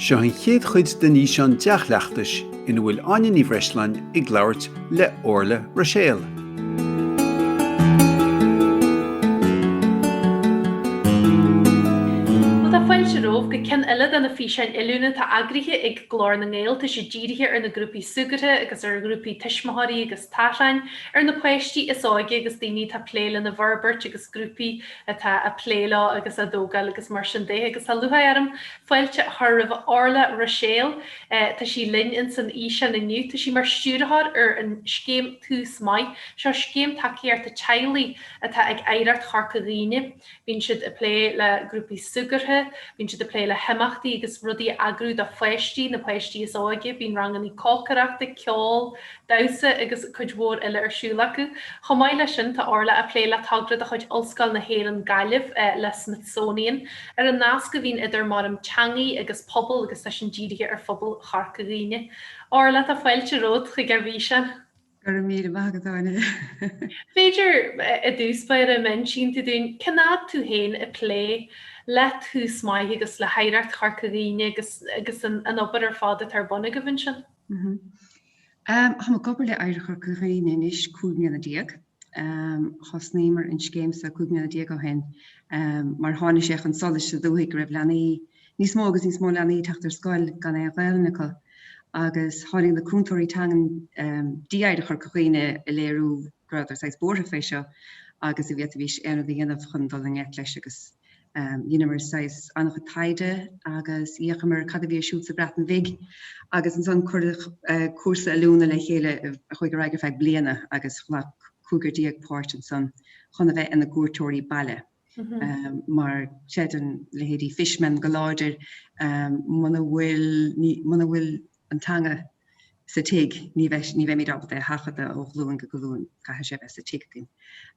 Seo an chéad chuid den fhíseán dea-chleachtais ina bhfuil Áine Ní Bhreisleáin ag labhairt le Orlaith Ruiséal. Tá fáilte romhaibh go ceann eile de na físeáin oiliúna atá eagraithe ag Glór na nGael. Tá siad dírithe ar na grúpaí súgartha agus ar ghrúpaí tuismitheoirí agus tachráin, ar na páistí is óige agus daoine atá ag plé lena bhforbairt agus grúpaí atá ag plé leo agus á dtógáil agus mar sin de agus tá lúcháir orm fáilte a chur roimh Orlaith Ruiséal, tá sí linn ins an fhíseán inniu. Tá sí mar stiúrthóir ar an scéim Tús Maith, seo scéim tacaíochta teaghlaigh atá ag Oidhreacht Chorca Dhuibhne. Bíonn siad ag plé le grúpaí súgartha, bíonn siad ag plé le himeachtaí agus rudaí a eagrú do pháistí, na páistí is óige, bíonn rangannaí cócaireachta, ceol, damhsa agus cuid mhór eile ar siúl acu. Chomh maith leis sin, tá Orlaith ag plé le togra de chuid Ollscoil na hÉireann Gaillimh le Smithsonian ar an nasc a bhíonn idir marthain teangaí agus pobal agus tá sin dírithe ar phobal Chorca Dhuibhne. Orlaith, tá fáilte romhat chuig ár bhfíseán. Go raibh míle maith agat, Áine. B'fhéidir, i dtús báire, má insíonn tú dúinn cén fhad tú féin ag plé le Tús Maith agus le hOidhreacht Chorca Dhuibhne agus an obair ar fad atá ar bun agaibh ansin? Táim ag obair le Oidhreacht Chorca Dhuibhne anois cúig mbliana déag. Thosnaíomar an scéim seo cúig mbliana déag ó shin mar tháinig sé chun solais sa dúthaigh go raibh leanaí, níos mó agus níos mó leanaí ag teacht ar scoil gan aon Ghaelainn acu agus tháinig na cúntóirí teangan dtí Oidhreacht Chorca Dhuibhne ag léiriú go rabhadar saghas buartha fé seo agus an bhféadfaimís aon rud a dhéanamh chun dul i ngleic leis agus Dheineamar saghas an-chuid taighde agus d'fhéachamar cad a bhí ar siúl sa Bhreatain Bhig agus ansan cuireadh cúrsa oiliúna le chéile a chuaigh ar aghaidh ar feadh bliana agus ghlac cúigear déag páirt ansan chun a bheith ina gcuairteoirí baile. Mar chreideann leithéidí Fishman go láidir muna bhfuil an teanga sa tigh ní bheimid ábalta é a sheachadadh ó ghlúin go glúin, caithfidh sé bheith sa tigh againn.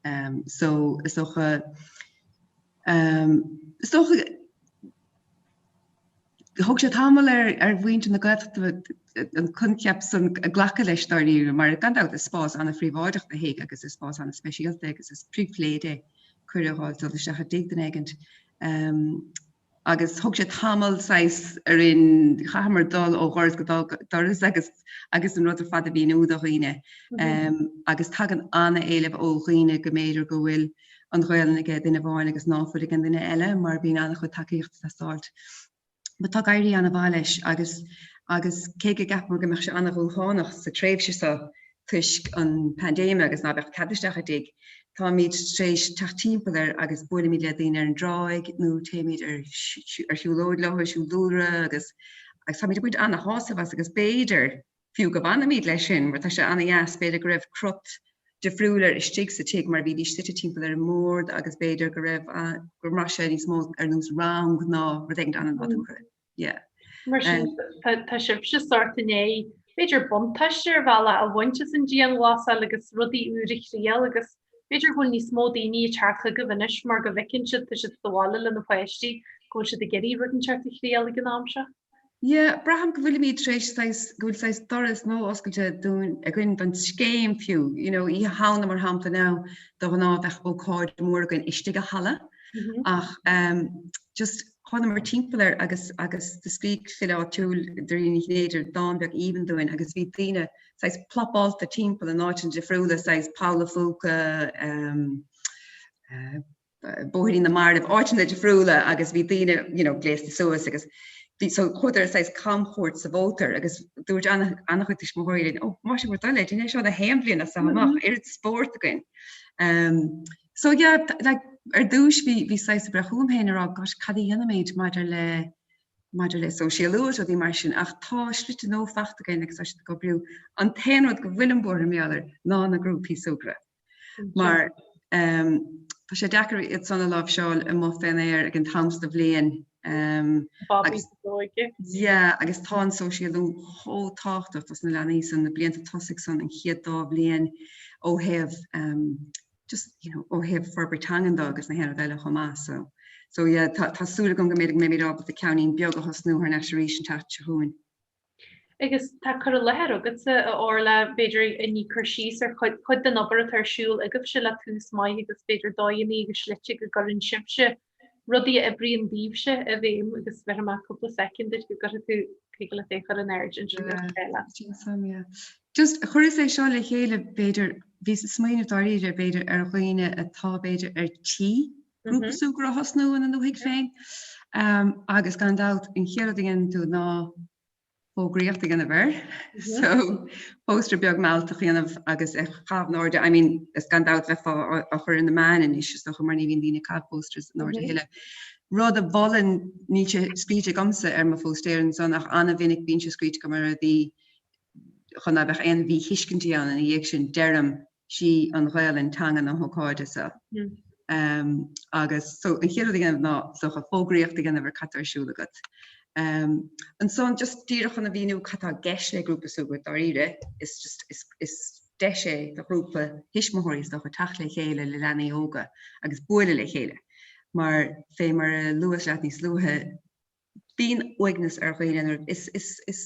Ehm so is dócha ehm is dócha thóg sé tamall ar ar mhuintir na Gaeltachta an coincheap san glacadh leis dáiríre mar gan dabht is spás an-phríobháideach do thigh agus is spás an-speisialta é agus is pribhléid é cuireadh a fháil dul isteach i dtigh duine éigint. Ehm. agus thóg sé tamall saghas orainn, chaitheamar dul ó dhoras go doras agus agus an rud ar fad a mhíniú do dhaoine agus tagann an-éileamh ó dhaoine go mb'fhéidir go bhfuil an Ghaolainn aige duine amháin agus ná fuil ag an duine eile mar bíonn an-chuid tacaíocht ag teastáilt. But tá ag éirí an-mhaith leis agus agus cé go gceapamar go mbeadh sé an-dhúshlánach sa tréimhse seo, toisc an paindéime agus ná beadh cead isteach i dtigh, táimid tar éis teacht timpeall air agus buailimid le daoine ar an dtráigh nó téimid ar shiúlóid leo, ar siúl dúlra agus agus táimid ag baint ana-shásamh as agus b'fhéidir fiú go bhfanfaimid leis sin mar tá sé ana-dheas, b'fhéidir go raibh crut difriúil air istigh sa tigh mar bhídís suite timpeall ar an mbord agus b'fhéidir go raibh, go mbraith sé níos mó ar nós rang ná rud éigin ana-nádúrtha. Tá sibhse sórt i ndiaidh b'fhéidir buntáiste ar bhealach a bhaint as an dianghlasáil agus rudaí úr a thriail agus b'fhéidir go bhfuil níos mó daoine ag teacht chugaibh anois mar go bhfeiceann siad, tá siad sa bhaile lena bpáistí, go bhfuil siad ag iarraidh rud inteacht a thriail ag an am seo. Yeah, braithim go bhfuilimid tar éis saghas, go bhfuil saghas doras nua oscailte dúinn againn don scéim fiú, you know, Oíche Shamhna mar shampla now, de ghnáth bheadh ócáid mór againn istigh i halla mm-hmm. ach um, just Thánamar timpeall air agus agus do scrígh file áitiúil, Dairena Ní Chinnéide, dán beag aoibhinn dúinn agus bhí daoine saghas plopáilte timpeall in áiteanna difriúla, saghas Poll a' Phúca, ehm, eh, Bóithrín na Marbh, áiteanna difriúla agus bhí daoine, you know, gléasta suas agus so chuadar saghas camchuairt sa mhótar agus dúirt ana-chuid tuismitheoirí linn, ó, más é bhur dtoil é, déin é seo gach aon bhliain as so amach, oiread spóirt againn. Ehm, So yeah, like ar dtúis bhí bhíos saghas ag breith chugam féin ag rá gosh cad a dhéanfaimid maidir le maidir le sóisialú is rudaí mar sin ach tá slite nua fachta againn agus tá siad ag oibriú. An t-aon rud go bhfuilim buartha mar gheall air ná na grúpaí súgradh mar ehm tá sé deacair iad san a láimhseáil amuigh fén aer ag an t-am so de bhliain ehm Bobby sa dóigh. Yeah agus tá an sóisialú chomh tábhachtach dos na leanaí san na blianta tosaigh san an chéad dá bhliain ó thaobh ehm just you know, ó thaobh forbairt teangan do agus gach aon ní eile chomh maith. So, so yeah, tá, tá súil agam go mbeimid ábalta ceannín beag a thosnú thar n-ais arís an tseachtain seo chugainn. Agus tá cur i láthair agatsa, a Orla, b'fhéidir, a ní cur síos ar chuid, cuid den obair atá ar siúl agaibhse le Tús Maith agus b'fhéidir dóigheanna agus slite go gcuireann sibhse rudaí a oibríonn daoibhse i bhfeidhm agus bhéarfaidh mé cúpla soicind duit go gcuirfidh tú chuige le é a chur in airde ansin ar an bhéile. Sin suim, yeah. Just chuireas é seo le chéile b'fhéidir, bhíos ag smaoineamh dáiríre b'fhéidir ar dhaoine atá b'fhéidir ar tí grúpa súgradh a thosnú ina ndúthaigh féin agus gan dabht an chéad rud a dhéanann tú ná fógraíocht a dhéanamh air, so póstaer beag mealltach a dhéanamh agus a chaitheamh in airde, I mean is gan dabht bheifeá á chur ins na meáin anois is dócha mar ní bhíonn daoine ag caitheamh posters in airde a thuilleadh. Rud a mholfainn, níl sé scríte agamsa ar mo phóstaer ansan ach ana-mhinic bíonn sé scríte agam ar a' dtaobh chun ná beadh aon mhíthuiscintí ann ina dhiaidh sin, deirim, sí an Ghaelainn teanga na hócáide seo agus so an chéad rud a dhéanamh ná seo fógraíocht a dhéanamh ar cad tá ar siúl agat. Ansan just díreach chun a mhíniú cad tá i gceist le grúpa súgartha dáiríre is just is is deis é do ghrúpa thuismitheoirí is dócha teacht le chéile le leanaí óga agus bualadh le chéile mar fé mar a luas leat níos luaithe bíonn uaigneas ar dhaoine nuair is is is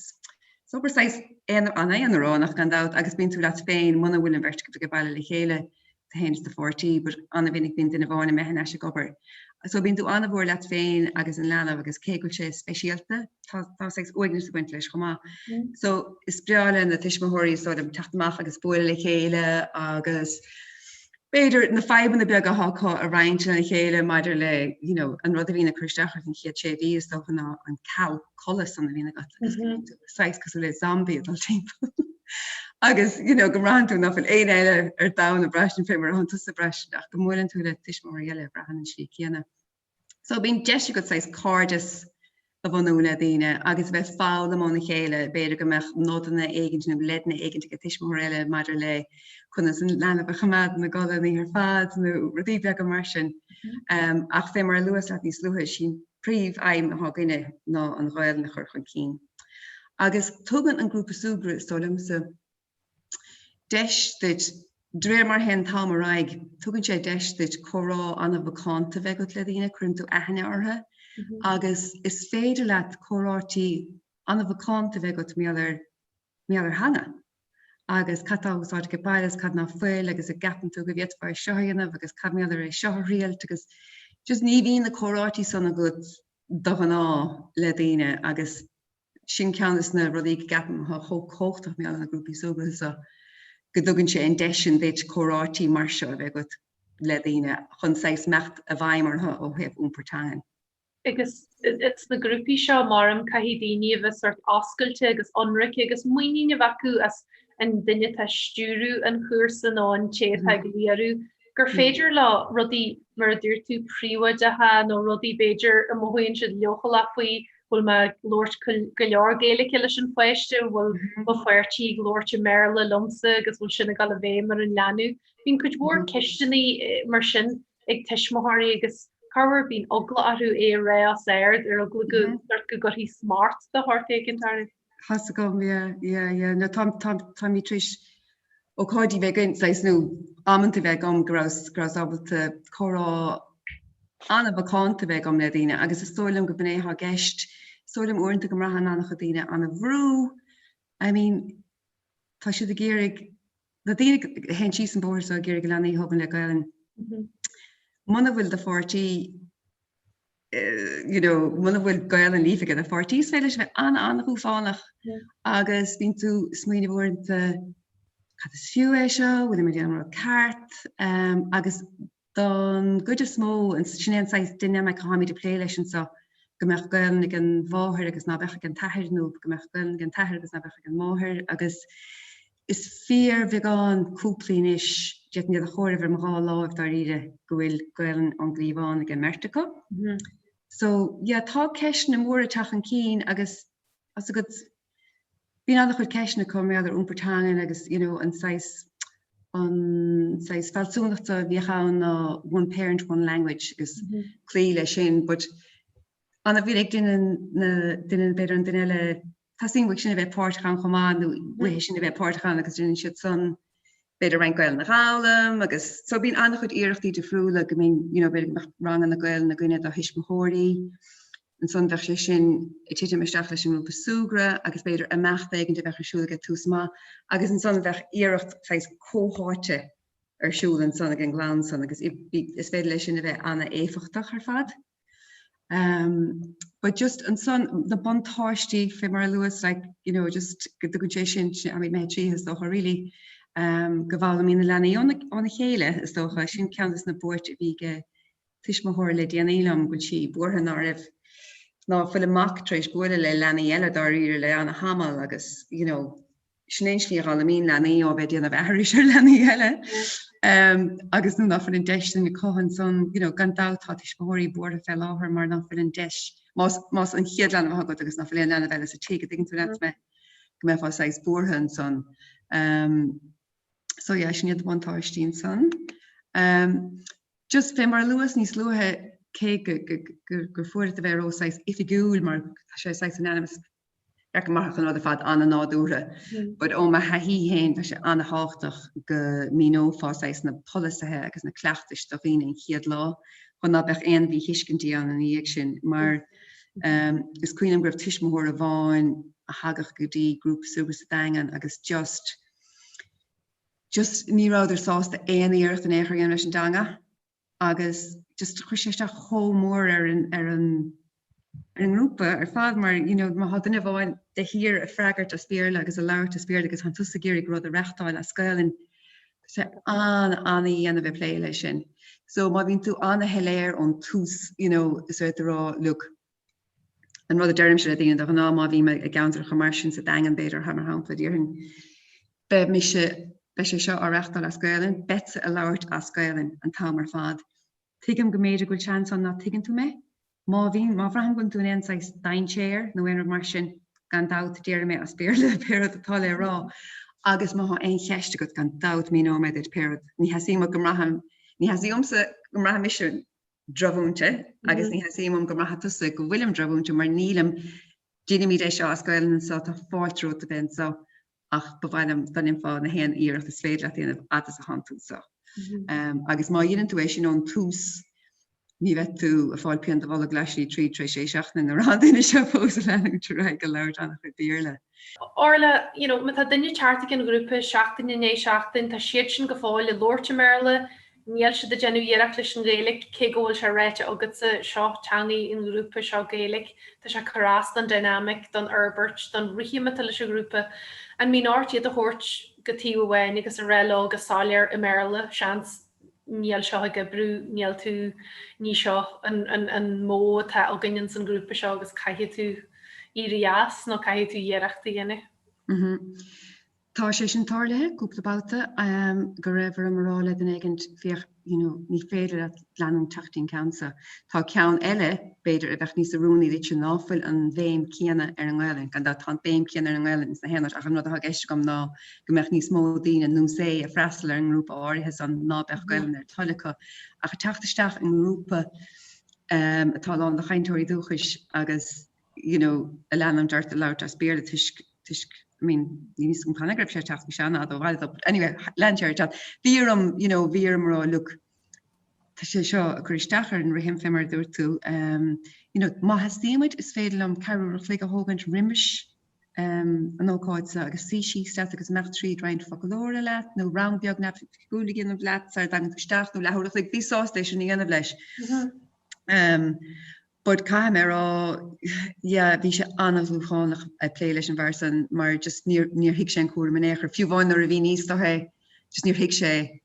obair saghas aonaránach gan dabht agus bíonn tú leat féin muna bhfuil an bheirt agat ag baile le chéile tú féin is do pháirtí but ana mhinic bíonn duine amháin imithe thar n-ais ag obair so bíonn tú ana mhór leat féin agus an leanbh agus cé go bhfuil sé speisialta tá tá saghas uaigneas ag baint leis chomh maith mm. so is breá le na tuismitheoirí so teacht amach agus bualadh le chéile agus b'fhéidir, na fadhbanna beaga atá acu a roinnt lena chéile maidir le, you know, an rud a bhíonn ag cur isteach ort an chéad sé mhí, is dócha, ná an ceal codlata san a bhíonn agat agus go mbíonn tú saghas cosúil le zombie ag dul timpeall. Agus, you know, go mbraitheann tú nach bhfuil éinne eile ar domhan ag braistint fé mar atánn tusa ag braistint go mbuaileann tú le tuismitheoirí eile a bhraitheann an slí céanna. So bíonn deis agat saghas cairdeas a bhunú le daoine agus a bheith foghlaim óna chéile, b'fhéidir go mbeadh nodanna éigint nó leideanna éigint ag an tuismitheoir eile maidir le conas an leanbh a choimeád ina gcodladh an oíche ar fad nó rudaí beaga mar sin. Ach fé mar a luas leat níos luaithe, is í an príomh-aidhm athá againne ná an Ghaelainn a chur chun cinn. Agus tugann an grúpa súgradh, is dóigh liomsa, deis duit, de réir mar a théann an t-am ar aghaidh, tugann sé deis duit comhrá an-mhacánta bheith agat le daoine, cuireann tú aithne orthu agus is féidir leat comhráití an-mhacánta bheith agat mar gheall ar, mar gheall ar theanga agus cad atá á úsáid age baile agus cad ná fuil agus a gceapann tú go bhféadfá é seo a dhéanamh agus cad, mar gheall ar é seo a thriailt agus just ní bhíonn na comhráití san agat de ghnáth le daoine agus. Sin ceann des na rudaí go gceapaim atá chomh cumhachtach mar gheall ar na grúpaí súgartha seo, go dtugann sé an deis sin duit comhráití mar seo a bheith agat le daoine chun saghas imeacht i bhfeidhm orthu ó thaobh iompar teangan. Agus is sna grúpaí seo, maram, caithfidh daoine a bheith sort oscailte agus ionraice agus muinín a bheith acu as an duine atá ag stiúradh an chúrsa nó an té atá á léiriú. gur féidir leo rudaí, mar a dúirt tú, príobháideacha nó rudaí, b'fhéidir, a mothaíonn siad leochaileach faoi, bhfuil mé ag labhairt go leor Gaeilge leis an pháiste, bhfuil mo pháirtí ag labhairt i mBéarla liomsa agus bhfuil sin ag dul i bhfeidhm ar an leanbh. Bíonn cuid mhór ceisteanna mar sin ag tuismitheoirí agus corruair bíonn eagla orthu é a rá os ard, ar eagla go go gcaithfí smúit de shórt éigin orthu. Tá a fhios agam yeah yeah yeah no táim táim táimid tar éis ócáidí bheith againn saghas nó amanta a bheith agam go raibh go rabhas ábalta comhrá an-mhacánta a bheith agam le daoine agus is dóigh liom gurb in é athá i gceist is dóigh liom uaireanta go mbraitheann an-chuid daoine an-bhrú I mean tá siad ag iarraidh na daoine a théann síos an bóthar so ag iarraidh leanaí a thógaint le Gaelainn muna bhfuil do pháirtí you know, muna bhfuil Gaelainn líofa aige do pháirtí is féidir leis a bheith an-an-dhúshlánach agus bíonn tú smaoineamh uaireanta cad is fiú é seo, bhfuil mé ag déanamh an rud ceart? Um, agus don gcuid is mó sin é an saghas dynamic atháimid ag plé leis anseo go mbeadh Gaelainn ag an mháthair agus ná beadh ag an t-athair nó go mbeadh Gaelainn ag an t-athair agus ná beadh ag an máthair agus Is fíorbheagán cúplaí anois, d'fhéadfainn iad a chomhaireamh ar mo dhá láimh, dáiríre, go bhfuil Gaelainn ón gcliabhán ag an mbeirt acu. So, yeah, tá ceisteanna móra ag teacht chun cinn agus, tá a fhios agat, bíonn an-chuid ceisteanna acu mar gheall ar iompar teangan agus, you know, an saghas, an saghas fealsúnachta a bhíodh ann ná one parent, one language agus cloí leis sin but, An-mhinic duine na duine b'fhéidir an duine eile teastaíonn uaidh sin a bheith páirteach ann chomh maith nó uaithe sin a bheith páirteach ann agus déanann siad san b'fhéidir roinnt Gaelainne a dh'fhoghlaim agus so bíonn an-chuid iarrachtaí difriúla go mbíonn you know b'fhéidir go mbeadh ranganna Gaelainne againne do thuismitheoirí ansan bheadh sé sin ag titim isteach leis an ngrúpa súgradh agus b'fhéidir imeacht éigin a bheadh ar siúl aige Tús Maith agus ansan bheadh iarracht saghas comhtháite ar siúl ansan ag an gclann san agus is féidir leis sin a bheith an-éifeachtach ar fad. But just ansan na buntáistí fé mar a luas like, you know, just go dtugann sé sin I mean mé trí is dócha really um, go bhfoghlaimíonn na leanaí óna chéile is dócha sin ceann dos na buairt a bhí aige tuismitheoir le déanaí liom go bhfuil sí buartha ná raibh ná fuil a mac tréis bualadh le leanaí eile dáiríre le an-thamall agus you know Sin é an slí a dh'fhoghlaimíonn leanaí ó a bheith ag déanamh aithris ar leanaí eile agus nuair nach bhfuil an deis sin acu ansan. You know, gan dabht tá tuismitheoirí buartha fé láthair mar nach bhfuil an deis, más, más an chéad leanbh athá agat agus nach bhfuil aon leanbh eile sa tigh, dtuigeann tú an rud mé, go mbeifeá saghas buartha ansan. Umm, so yeah, sin iad na buntáistí ansan. Umm, just fé mar a luas níos luaithe, cé go, go, go, gur fuath leat a bheith ró saghas oifigiúil mar tá sé saghas an-neamh fhoirmeálta an rud ar fad an-nádúrtha but ó mo thaithí féin tá sé an-tábhachtach go míneofá saghas na polasaithe agus na cleachtais do dhaoine an chéad lá chun ná beadh aon mhíthuiscintí ann ina dhiaidh sin mar is cuimhin liom go raibh tuismitheoir amháin a thagadh go dtí grúpa súgradh sa Daingean agus just just ní rabhadar sásta aon iarracht in aon chor a dhéanamh leis an dteanga. agus just chuir sé isteach chomh mór ar an ar an ar an ngrúpa ar fad mar you know má tá duine amháin de shíor a freagairt as Béarla agus a labhairt as Béarla agus tá tusa ag iarraidh rud a reachtáil as Gaelainn tá sé an-dian a bheith ag plé leis sin. So má bhíonn tú an-shoiléir ón tús you know is é a rá look an rud a deirimse le daoine de ghnáth, má bhím i gceantar mar sin, sa Daingean b'fhéidir, mar shampla, déarfainn 'beidh mise, beidh sé seo á reachtáil as Gaelainn, beadsa a labhairt as Gaelainn an t-am ar fad'. Tuigim go mb'fhéidir go bhfuil seans ann ná tuigeann tú mé. Má bhíonn, má bhraithim go bhfuil tú in aon saghas dainséar nó aon rud mar sin, gan dabht, déarfaidh mé as Béarla pé rud atá le rá. Agus má tá aon cheist agat, gan dabht, míneoidh mé duit pé rud. Ní theastaíonn uaim go mbraithfinn, ní theastaíonn uaimse go mbraithfidh mise, drochmhúinte agus ní theastaíonn uaim go mbraithfidh tusa go bhfuilim drochmhúinte mar nílim, déanaimid é seo as Gaolainn anseo, tá fáilte romhat a bheith anseo ach ba mhaith liom dá ndéanfá gach aon iarracht is féidir leat a dhéanamh fhad is atánn tú anseo. Agus má dhéanann tú é sin ón tús ní bheidh tú ag fáil pian i do bholg leath slí tríd tar éis sé seachtaine ag rá tá an duine seo fós a leanúint ar aghaidh ag labhairt ana-chuid Béarla. Orla, You know, má tá duine ag teacht chuig an ghrúpa seachtain i ndiaidh seachtain, tá siadsan go fóill ag labhairt i mBéarla, níl siad ag déanamh iarracht leis an Ghaeilge, cé go bhfuil sé ráite agatsa, seo teangaidh an ghrúpa, seo Gaeilge, tá sé ag cur as don dynamic, don fhorbairt, don rithim atá leis an ghrúpa. An mbíonn ort iad a thabhairt go taobh amháin agus a rá leo go soiléir i mBéarla, seans? níl seo ag oibriú, níl tú, ní seo an modh atá againn ins an ghrúpa seo agus caithfidh tú éirí as nó caithfidh tú iarracht a dhéanamh. Mhm. Tá sé sin tarlaithe cúpla babhta go raibh orm a rá le duine éigin féach you know ní féidir leat leanúint ag teacht go dtí an ceann seo. Tá ceann eile b'fhéidir a bheadh níos oiriúnaí duitse ná fuil an bhéim céanna ar an nGaelainn, gan dabht tá an béim céanna ar an nGaelainn sna haonaid ach an rud atá i gceist agam ná go mbeadh níos mó daoine nós é a freastal ar an ngrúpa áirithe san ná beadh Gaelainn ar a dtoil acu ach ag teacht isteach i ngrúpa atá lán de chainteoirí dúchais agus you know a leanann de a bheith ag labhairt as Béarla toisc toisc I mean níl a fhios agam canathaobh go raibh sé ag teacht go seana fhad but anyway lean sé air ag teacht. Bhí orm you know bhí orm a rá look tá sé seo a cur isteach ar an rithim fé mar a dúirt tú you know má theastaíonn uait is féidir liom ceathrú uair an chloig a thógaint roimis an ócáid so agus suí síos leat agus imeacht tríd roinnt focalóra leat nó rang beag neamhoifigiúil a dhéanamh leat sara dtagann tú isteach nó leathuair a chloig bhíos sásta é sin a dhéanamh leis. But caithfidh mé a rá yeah bhí sé an-dhúshlánach ag plé leis an bhfear san mar just níor níor thuig sé an cúram in aon chor, fiú amháin nuair a mhíníos do é just níor thuig sé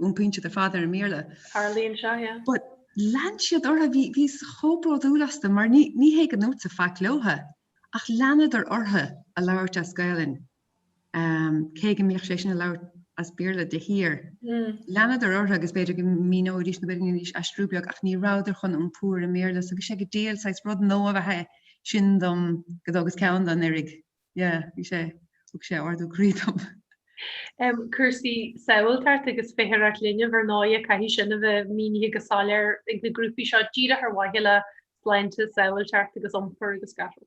Iompaíonn siad ar fad ar an mBéarla. Tarlaíonn seo, yeah. But lean siad ortha, bhí, bhíos chomh bródúil astu mar ní, ní hé go ndúrtsa faic leotha ach leanadar ortha a labhairt as Gaelainn, ehm, cé go mbíodh sé sin a labhairt as Béarla de shíor. Leanadar ortha agus b'fhéidir go míneoidís nó b'fhéidir aistriú beag ach ní rabhadar chun iompú ar an mBéarla so bhí sé go diail saghas rud nua ab ea é sin dom go dtógas ceann dó anuraidh. Yeah, bhí sé, thug sé ardú croí dom. Cúrsaí sábháilteachta agus feitheoireacht linbh, ar ndóigh, caithfidh sin a bheith mínithe go soiléir ag na grúpaí seo díreach ar mhaithe le sláinte, sábháilteacht agus iompar agus scafall.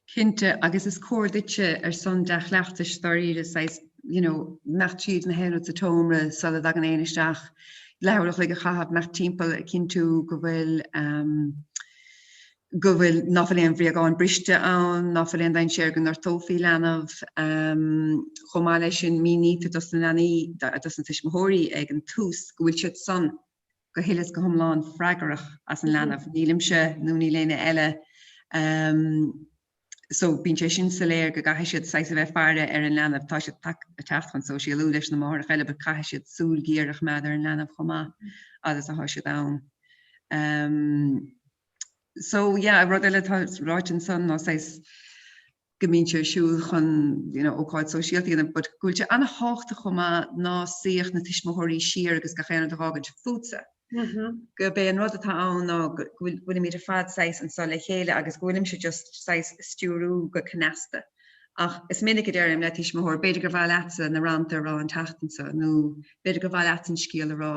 Cinnte, agus is cóir duitse ar son dea-chleachtais dáiríre saghas, you know, imeacht tríd gach aon rud sa tseomra sula dtagann éinne isteach leathuair an chloig a chaitheamh, imeacht timpeall a chinntiú go bhfuil, go bhfuil, ná fuil aon bhréagáin briste ann, ná fuil aon dainséar go ngortófaí leanbh. Chomh maith leis sin, mínítear dos na leanaí, dos na tuismitheoirí ag an tús go bhfuil siad san go huile is go hiomlán freagarach as an leanbh, nílimse nó níl éinne eile, so bíonn sé sin soiléir go gcaithfidh siad saghas a bheith ag faire ar an leanbh. Tá siad ag teacht chun sóisialú leis na máithreacha eile but caithfidh siad súil ghéar a choimeád ar an leanbh chomh maith agus atá siad ann. So yeah, rud eile atá ráite ansan ná saghas go mbíonn sé ar siúl chun you know ócáid sóisialta a dhéanamh but go bhfuil sé an-thábhachtach chomh maith ná suíodh na tuismitheoirí siar agus gach aon rud a dh'fhágaint fútsa. Gurb é an rud atá ann ná go bhfuilimid ar fad saghas anso le chéile agus go bhfuilimse just saghas á stiúrú go cneasta. Ach is minic a deirim le tuismitheoir b'fhéidir gur mhaith leatsa na rannta a rá an tseachtain so nó b'fhéidir gur mhaith leatsa an scéal a rá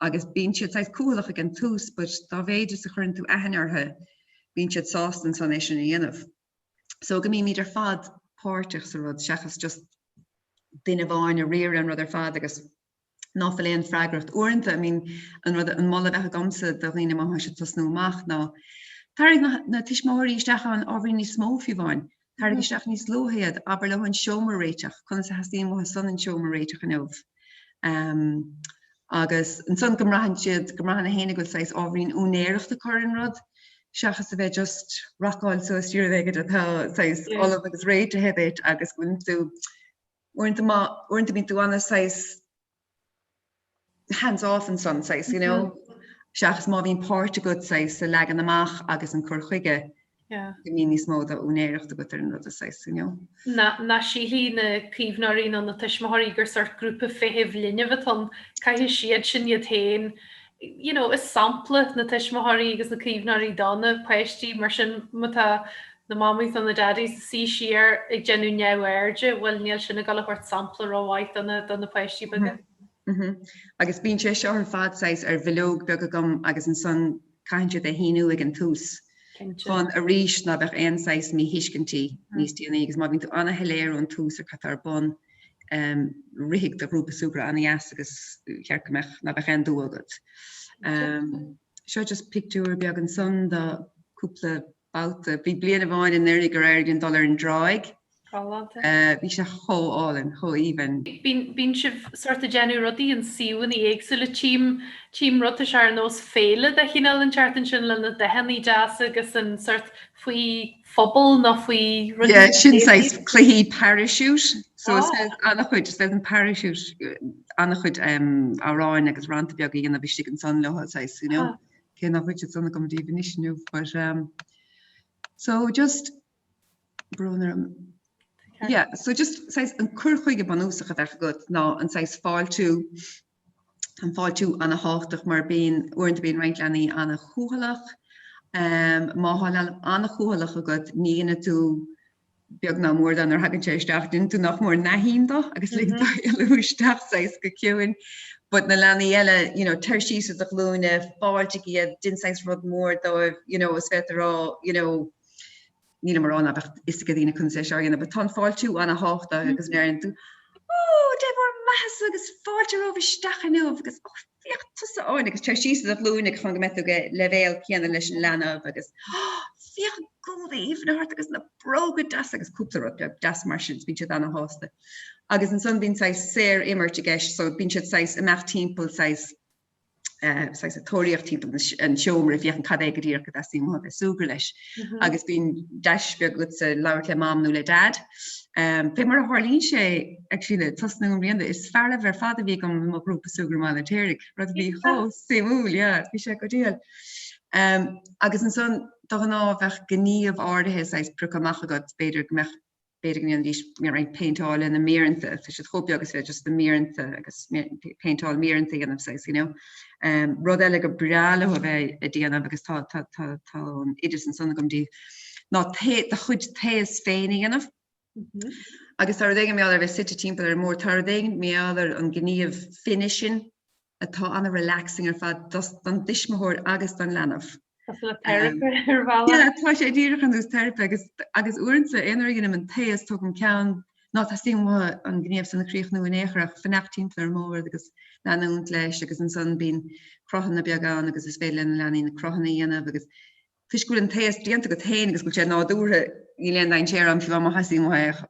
agus bíonn siad saghas cúthaileach ag an tús but dá mhéid is a chuireann tú aithne orthu bíonn siad sásta ansan é sin a dhéanamh so go mbímid ar fad páirteach sa rud seachas just duine amháin ag riaradh an rud ar fad agus ná fuil aon freagracht uaireanta I mean an rud an moladh a bheadh agamsa do dhaoine má thá siad ag tosnú amach ná tarraing na, na tuismitheoirí isteach ann ábhairín níos mó fiúháin Tarraing isteach níos luaithe iad, abair leo an seomra a réiteach, conas a theastaíonn uathu san an seomra a réiteach inniu? Agus ansan go mbraitheann siad, go mbraitheann gach éinne go bhfuil saghas ábhairín úinéireacht acu ar an rud, seachas a bheith just rocáil suas dtí rud éigin atá saghas ullamh agus réitithe duit agus go bhfuil tú, uaireanta má, uaireanta bíonn tú ana saghas hands off ansan saghas you know seachas má bhíonn páirt agat saghas sa leagan amach agus an cur chuige yeah. go mbíonn níos mó do úinéireacht agat ar an rud saghas you know. Ná, ná sílfidh na caomhnóirí nó na tuismitheoirí gur sort grúpa feithimh linbh atá ann, caithfidh siad sin iad féin you know, is sampla na tuismitheoirí agus na caomhnóirí do na páistí mar sin má tá na mamaís nó na dadaís ag suí siar ag déanamh neamhairde, bhuel níl sin ag dul a thabhairt sampla rómhaith do na, do na páistí beaga. Mhm. Agus bíonn sé seo ar fad saghas ar bhileog beag agam agus ansan caitheann siad é a shíniú ag an tús Cinnte. chun arís ná beadh aon saghas míthuiscintí níos déanaí agus má bhíonn tú ana-shoiléir ón tús ar cad tá ar bun rithfidh do ghrúpa súgradh ana-dheas agus cheart go mbeadh, ná beadh aon dua agat. Seo just pictiúr beag ansan de cúpla babhta. Bhí bliain amháin anuiridh gur éirigh linn dul ar an dtráigh. Galánta. Bhí sé chomh álainn, chomh aoibhinn. Bíonn sibh sort ag déanamh rudaí i suíomhanna éagsúla, tím, tím rud, tá sé ar nós féile de chineál an teart ansin le na dathannaí deasa agus an sort faoi, phuball nó faoi rudaí Yeah, sin saghas creative. cluichí parachute. So is Ah. féidir an-chuid, is féidir an parachute, uh, an-chuid um, amhráin agus rannta beaga a dhéanamh istigh ansan leo, saghas, you know. Ah. Cé nach bhfuil siad san agam díbh anois inniu, but um, so just, brón orm. Yeah, so just saghas an cur chuige bunúsach a bheadh agat ná an saghas fáiltiú an fáiltiú an-tábhachtach mar bíonn, uaireanta bíonn roinnt leanaí an-chúthaileach. Má tá leanbh an-chúthaileach agat, ní dhéanann tú beag ná mór de nuair a thagann sé isteach, déanann tú nach mór nothing de agus lig dó mm-hmm. éalú isteach saghas go ciúin. But na leanaí eile, you know, téir síos ar do ghlúine, fáiltigh iad, déan saghas rud mór dóibh, you know, is féidir rá, you know, Nílim ag rá ná beadh fhios ag daoine conas é seo a dhéanamh but tá an fáiltiú an-tábhachtach agus nuair a dhéanann tú Ó! Dé bhur mbeathasa agus fáilte romhaibh isteach inniu agus Ó! Féach tusa Áine agus téir síos ar do ghlúine agus chun go mbeidh tú ag leibhéal céanna leis an leanbh agus Ó! Féach an gúna aoibhinn atá ort agus na bróga deasa agus cúpla rud beag deas mar sin agus bíonn siad an-shásta. Agus ansan bíonn saghas saor imirt i gceist so bíonn siad saghas ag imeacht timpeall saghas ag tóraíocht timpeall an seomra féachaint cad é go díreach gur suim leo a bheith ag súgradh leis agus bíonn deis beag agatsa labhairt le mam nó le dad um, fé mar a tharlaíonn sé actually le tosnú i mbliana is fearaibh ar fad a bhí agam i mo ghrúpa súgradh i mBaile an Fheirtéaraigh rud a bhí chomh suimiúil yeah bhí sé go diail um, agus ansan de ghnáth bheadh gníomh áirithe saghas prioctha amach agat b'fhéidir go mbeadh b'fhéidir go ndéanfaidís roinnt péinteáil lena méireanta, tá siad chomh beag is féidir just na méireanta agus péinteáil méireanta a dhéanamh saghas, you know. Um, rud eile gur breá leo a bheith ag déanamh agus tá, tá, tá, tá an oideas ansan agam díbh, ná ta, do chuid taos féin a dhéanamh. Mm -hmm. Agus tar éigean méall ar bheith suite timpeall ar an mbord, tar éigean méall ar an gníomh finishing atá ana relaxing ar fad don dtuismitheoir agus don leanbh. Cosúil le teiripe ar bhealach. Yeah, tá sé díreach ar nós teiripe agus agus uaireanta aon uair a dhéanaim an taos tógaim ceann ná teastaíonn uatha an gníomh san a chríochnú in aon chor ach fanacht timpeall ar an mbord agus leanúint leis agus ansan bíonn cruthanna beaga ann agus is féidir le na leanaí na cruthanna a dhéanamh agus toisc go bhfuil an taos déanta agat féin agus go bhfuil sé nádúrtha níl aon dainséar ann fiú má theastaíonn uatha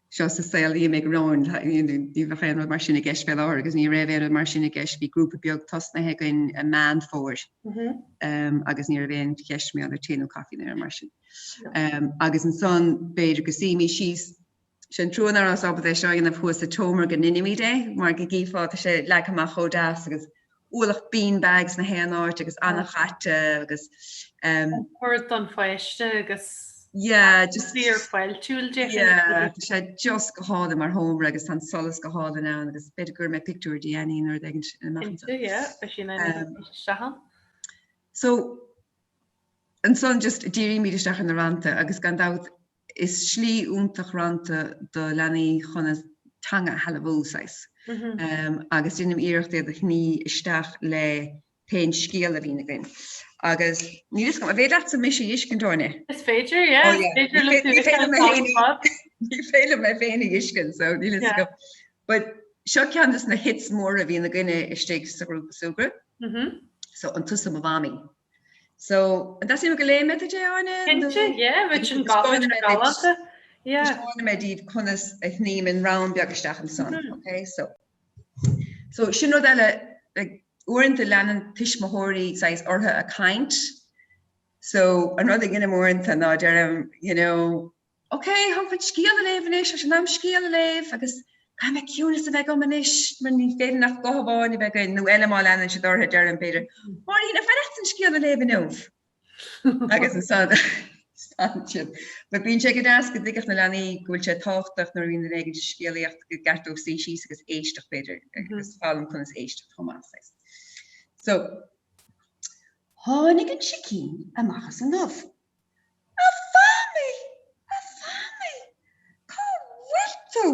seo sa saol amach romhainn ní bheadh aon rud mar sin i gceist fé láthair agus ní raibh aon rud mar sin i gceist bhí grúpa beag tosnaithe againn i Meán Fómhair agus ní raibh aon cheist mar gheall ar tae nó caife nó aon rud mar sin agus ansan b'fhéidir go suífimís síos sé an trua ná rabhas ábalta é seo a dhéanamh thuas sa tseomra go ndeinimid é mar go gcífeá tá sé leagtha amach chomh deas agus ualach bean bags na haon áit agus an-chaite agus ehm. Cuireadh don pháiste agus yeah just fíorfháiltiúil yeah tá sé just go hálainn mar sheomra agus tá an solas go hálainn ann agus b'fhéidir go gcuirfidh mé pictiúr de Annie nuair a bheidh ansin ina measc anseo yeah beidh sí ina ehm. seachán so ansan just dírímid isteach ar na rannta agus gan dabht is slí iontach rannta do leanaí chun a teanga a shealbhú saghas agus déanaim iarracht iad a shní isteach le pé scéal a bhíonn againn agus níl fhios agam, an féidir leatsa mise a fheiscint a Áine? Is féidir, yeah. Oh, yeah. Féidir le tú féidir mé féin. Ní féidir mé féin a fheiscint, so níl fhios agam. But seo ceann dos na hits mór a bhíonn againne istigh sa grúpa súgartha mm-hmm. so an tusa mo Mhamaí So an dteastaíonn uait go léifidh mé duit é Áine? Cinnte, yeah, bheadh sin galánta. Yeah. Taispeánfaidh mé díbh conas a shním an rann beag isteach ansan, ok? So, so sin rud eile, like, uaireanta leanann tuismitheoirí saghas orthu ag caint, so an rud a dheinim uaireanta ná deirim, you know, Ok, táim chun scéal a léamh anois, ach sin am scéal a léamh agus caithfidh mé ciúnas a bheith agam anois mar ní féidir ach guth amháin a bheith againn, nó eile má leanann siad orthu, deirim, b'fhéidir, Máirín, ar mhaith leat an scéal a léamh inniu? Agus ansan stadann siad. But bíonn sé go deas go dtuigfeadh na leanaí go bhfuil sé tábhachtach nuair a bhíonn duine éigin ag scéalaíocht gur cheart dóibh suí síos agus éisteacht, b'fhéidir, agus foghlaim conas éisteacht chomh maith, I suppose. So, tháinig an sicín amach as an ubh. A Mhamaí! A Mhamaí! Cá bhfuil tú?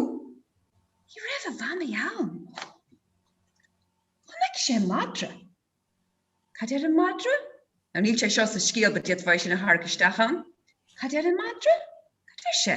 Ní raibh a Mhamaí ann. Chonaic sé madra. Cad deir an madra? Now níl sé seo sa scéal but d'fhéadfá é sin a tharrac isteach ann. Cad deir an madra? Cad deir sé?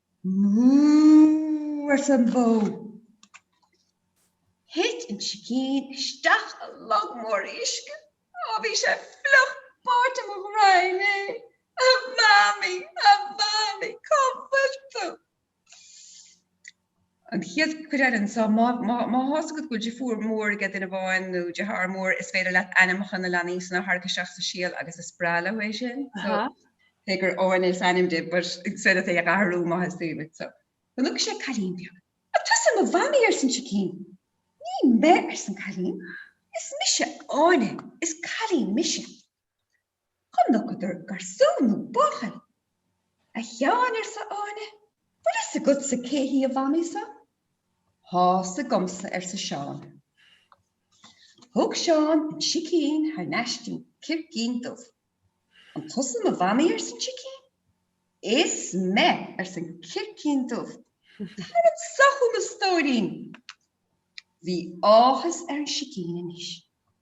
Mrúúúúú arsa an bhó. Thuit an sicín isteach i log mór uisce. Ó bhí sé fliuch báite mo ghraidhin é. A Mhamaí! A Mhamaí! Cá bhfuil tú? An chéad chuid eile anseo, má thá's agat go bhfuil deirfiúr mhór aige duine amháin nó deartháir mór, is féidir leat ainmneacha na leanaí san a tharrac isteach sa scéal agus is breá leo é sin. So, cé gur Áine is ainm di, but is féidir leat é a athrú má theastaíonn uait. So, chonaic sé cailín beag. An tusa mo mhamaí arsa an sicín. Ní me arsa an cailín. Is mise Áine. Is cailín mise. Chonaiceadar garsún nó buachaill. A Sheáin, arsa Áine, bhfuil fhios agatsa cé hí a mhamaí so? Thá's agamsa, arsa Seán. Thug Seán an sicín thar n-ais dtí an circín dubh. An tusa mo mhamaí ars an sicín. Is me, ars an circín dubh. Tar anso chugam a stóirín. Bhí áthas ar an sicín anois.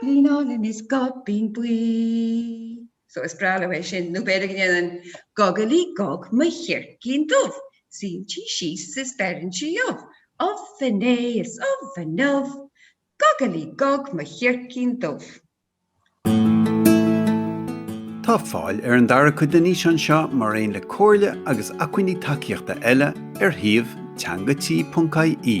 Eireabaillín álainn is goibín buí. So, is breá leo é sin, nó b'fhéidir go ndéanann Gogaillí Gog mo chircín dubh, suíonn sí síos is beireann sí ubh, ubh inné is ubh inniu, Gogaillí Gog mo chircín dubh. Tá fáil ar an dara cuid den fhíseán seo mar aon le comhairle agus acmhainní tacaíochta eile ar shuíomh teanga-tí.ie.